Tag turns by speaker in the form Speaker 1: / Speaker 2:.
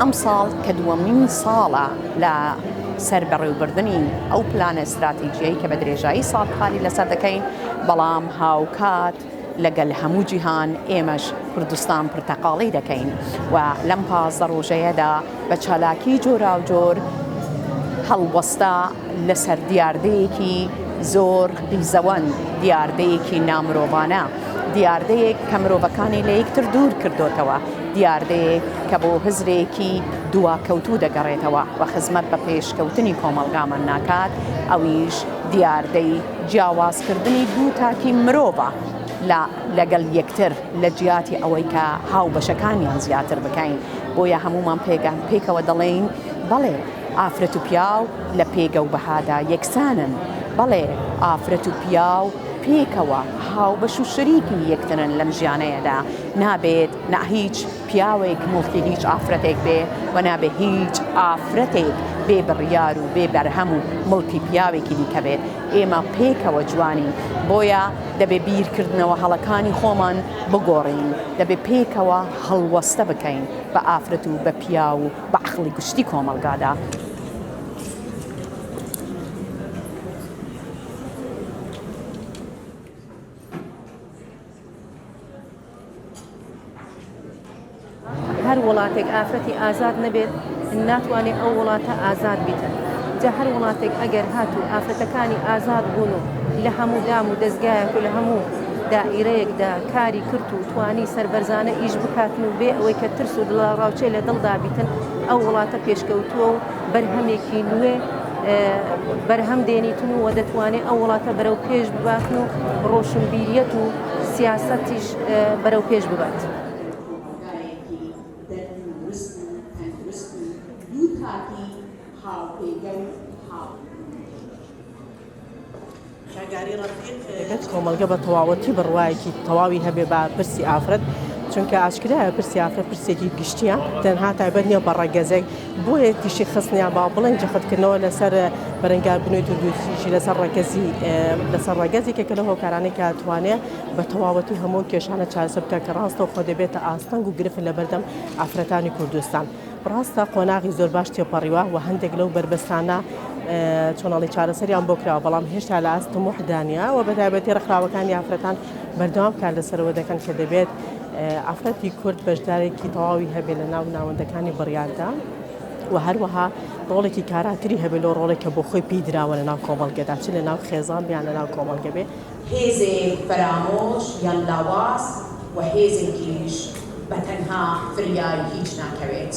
Speaker 1: ئەمساڵ
Speaker 2: کە دووەمین ساڵە لە سەر بەڕێوبردنی ئەو پلانە ستراتیجیەی کە بە درێژایی ساڵ کاری لەسەر دەکەین بەڵام هاوکات لەگەل هەموو جیهان ئێمەش کوردستان پرتەقاڵی دەکەین و لەم پازدە ڕۆژەیەدا بە چالاکی جۆراوجۆر هەڵوەستا لەسەر دیاردەیەکی زۆر قیزەوەن دیاردەیەکی نامرۆڤانە دیاردەیەک کە مرۆڤەکانی لە یەکتر دوور کردۆتەوە، دیاردەیەک کە بۆ هزرێکی دواکەوتوو دەگەڕێتەوە و خزمەت بە پێشکەوتنی کۆمەڵگامان ناکات، ئەویش دیاردەی جیاوازکردنی دوو تاکی مرۆڤە لە لەگەڵ یەکتر لە جیاتی ئەوەی کە هاوبەشەکانیان زیاتر بکەین، بۆیە هەموومان پێکەوە دەڵێین بەڵێ ئافرەت و پیاو لە پێگە و بەهادا یەکسانن، بەڵێ ئافرەت و پیاو. پێکەوە هاوبەش و شەریکی یەکترن لەم ژیانەیەدا، نابێت نا هیچ پیاوێک موڵکی هیچ ئافرەتێک بێ و نابێ هیچ ئافرەتێک بێ بڕیار و بێ بەرهەم و موڵکی پیاوێکی دیکە بێت، ئێمە پێکەوە جوانین بۆیە دەبێ بیرکردنەوە هەڵەکانی خۆمان بگۆڕین، دەبێ پێکەوە هەڵوەستە بکەین بە ئافرەت و بە پیاو و بە عەقڵی گشتی کۆمەڵگادا.
Speaker 3: هەر وڵاتێک ئافرەتی ئازاد نەبێت ناتوانێت ئەو وڵاتە ئازاد بیتن جا هەر وڵاتێک ئەگەر هات و ئافرەتەکانی ئازاد بوون و لە هەموو دام و دەستگایەک و لە هەموو دائیرەیەکدا کاری کرد و توانی سربەرزانە ئیش بکاتن و بێ ئەوەی کە ترس و دڵاڕاوچێ لە دڵدابیتن ئەو وڵاتە پێشکەوتووە و بەرهەمێکی نوێ بەرهەم دێنیتن و دەتوانێت ئەو وڵاتە بەرەو پێش بباتن و ڕۆشنبیریەت و سیاسەتیش بەرەو پێش ببات.
Speaker 4: دەبێت کۆمەڵگە بە تەواوەتی بڕوایەکی تەواوی هەبێ بە پرسی ئافرەت چونکە ئاشکرایە پرسی ئافرەت پرسێکی گشتیە تەنها تایبەت نیە بە ڕەگەزێک بۆیە تیشی خستنیان با بڵێن جەختکردنەوە لەسەر بەرەنگار بنوێ توندوتیژی لەسەر ڕەگەزی لەسەر ڕەگەزێکە کە لە هۆکارانەی کاتوانێ بە تەواوەتی هەموو کێشانە چارەسەر بکە کە ڕاستەوخۆ دەبێتە ئاستەنگ و گرفت لە بەردەم ئافرەتانی کوردستان. ڕاستە قۆناغی زۆر باش تێپەڕیوە و هەندێک لەو بەربەستانە چۆناڵی چارەسەریان بۆ کراوە بەڵام هێشتا لە ئاست تموحدانە و بەتابەتی ڕخراوەکانی ئافرەتان بەردەوام کار لەسەرەوە دەکەن کە دەبێت ئافرەتی کورد بەشدارێکی تەواوی هەبێ لە ناو ناوەندەکانی بڕیاردا و هەروەها ڕۆڵێکی کاراتری هەبێت لەو ڕۆڵێک کە بۆ خۆی پێی دراوە لە ناو کۆمەڵگەدا چ لە ناو خێزان بیان لە ناو کۆمەڵگە بێ هێزێک
Speaker 1: فەرامۆش یان لاواز و هێزێکیش بە تەنها فریای هیچ ناکەوێت.